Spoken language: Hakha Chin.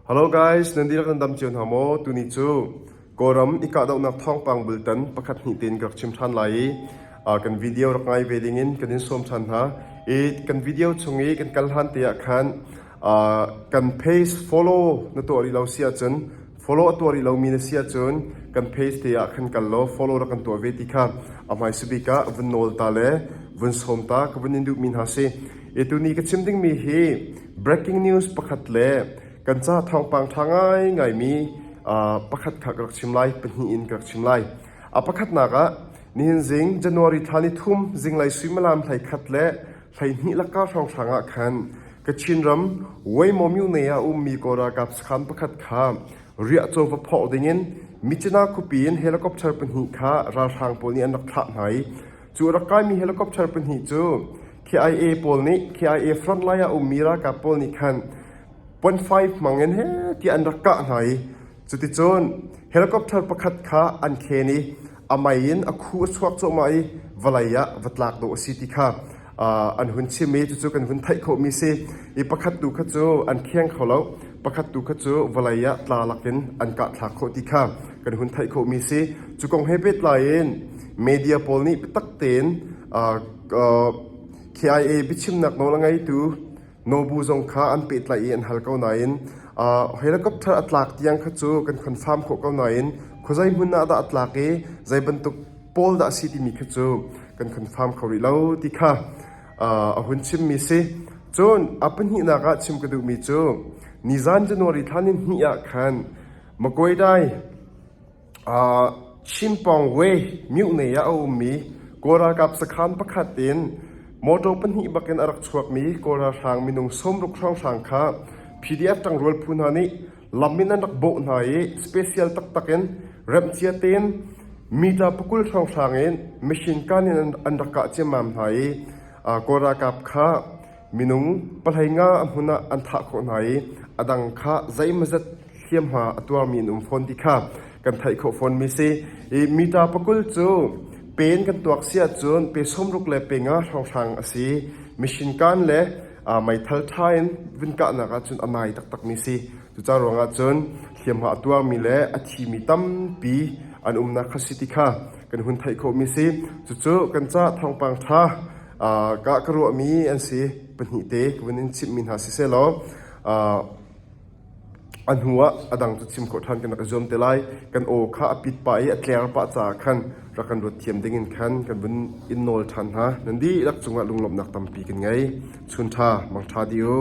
Halo guys, nan dihlak nan dam cio hna maw? Tuni cu Kawlram i kahdohnak thawngpang bultan pakhat hnih tein ka rak chim ṭhan lai i kan video rak ngai ve ding in kan in sawm ṭhan hna. I kan video chung i kan kal hlan te ah khan kan page follow na tuah rih lo si ahcun Follow a tuah rih lomi na si ahcun kan page te ah khan kal law follow rak kan tuah ve ti kha a hmaisa bik ah vun nawl ta le vun sawm ta ka vun in duhmi hna si. E tuni ka chim dingmi hi breaking news pakhat le kan ca thawngpang ṭha ngai ngaimi pakhat kha ka rak chim lai pahnih in ka rak chim lai. A pakhatnak ah nihin zing January thla ni thum zinglei suimalam hlei khat le Hleihnih lakka hrawnghrang ah khan Kachin ram Waimawmyone ah ummi kaw ralkap sakhan pakhat kha riah chawva phawh dingin Michina khuapi in helicopter pahnih kha ralhrang pawl nih an rak thlah hna i cu a rak kaimi helicopter pahnih cu KIA pawl nih KIA front lai ah ummi ralkap pawl nih khan point five hmangin he tiah an rak kah hna i cuticun helicopter pakhat kha an khen i a mei in a khu a chuak cuahmah i vawlei ah va tlak dawh a si ti kha an hun chim i cucu kan hun theih khawhmi si i pakhat tu kha cu an khiang kho lo pakhat tu kha cu vawlei ah tla lakin an kah thlak khawh ti kha kan hun theih khawhmi si cu kong he pehtlai in media pawl nih biatak tein KIA biachimnak nawl a ngeitu Nobu zong kha an pehtlaih i an hal ko nain helicopter a tlak tiang kha cu kan confirm khawh ko nain khuazei hmun ah dah a tlak i zei bantuk pawl dah a si timi khi cu kan confirm kho rih lo ti kha a hun chimmi si. Cun a pahnihnak ah chim ka duhmi cu nizan January thla ni hnih ah khan Maguire Chimpawng we Myuhnei ah a ummi Kawl ralkap sakhan pakhat in motor pahnih bakin a rak chuakmi Kawl ralhrang minung sawmruk hrawnghrang kha PDF ṭangrual phu hna nih lam in an rak bawh hna i special taktak in remhcia tein meter pakul hrawnghrang in machine gun in an rak kah ciammam hna i Kawl ralkap kha Minung pahlei nga a hmun ah an thah khawh hna i a dang kha zeimawzet hliamhma a tuarmi an um fawn ti kha kan theih khawh fawnmi a si. I mita pakul cu pe in kan tuak si ahcun pe sawmruk le pe nga hrawnghrang a si. Machine kaan le aa meithal ṭha in vun kahnak ahcun a nai taktakmi a si. Cucaah ruangah cun hliamhma a tuarmi le a thimi tampi an umnak kha si ti kha kan hun theih khawhmi a si. Cucu kan ca thawngpang ṭha Ka ka ruahmi an si. Pahnih te ka vun in chimhmi hna sisehlaw a hnuah a dang cu chim khawh ṭhan kan rak i zuam te lai. Kan aw kha a pit pah i a tler pah caah khan rak kan ruat thiam dingin khan kan vun in nawl ṭhan hna. Nan dihlak cungah lunglawmhnak tampi kan ngei. Chun ṭha, mangṭha dih u.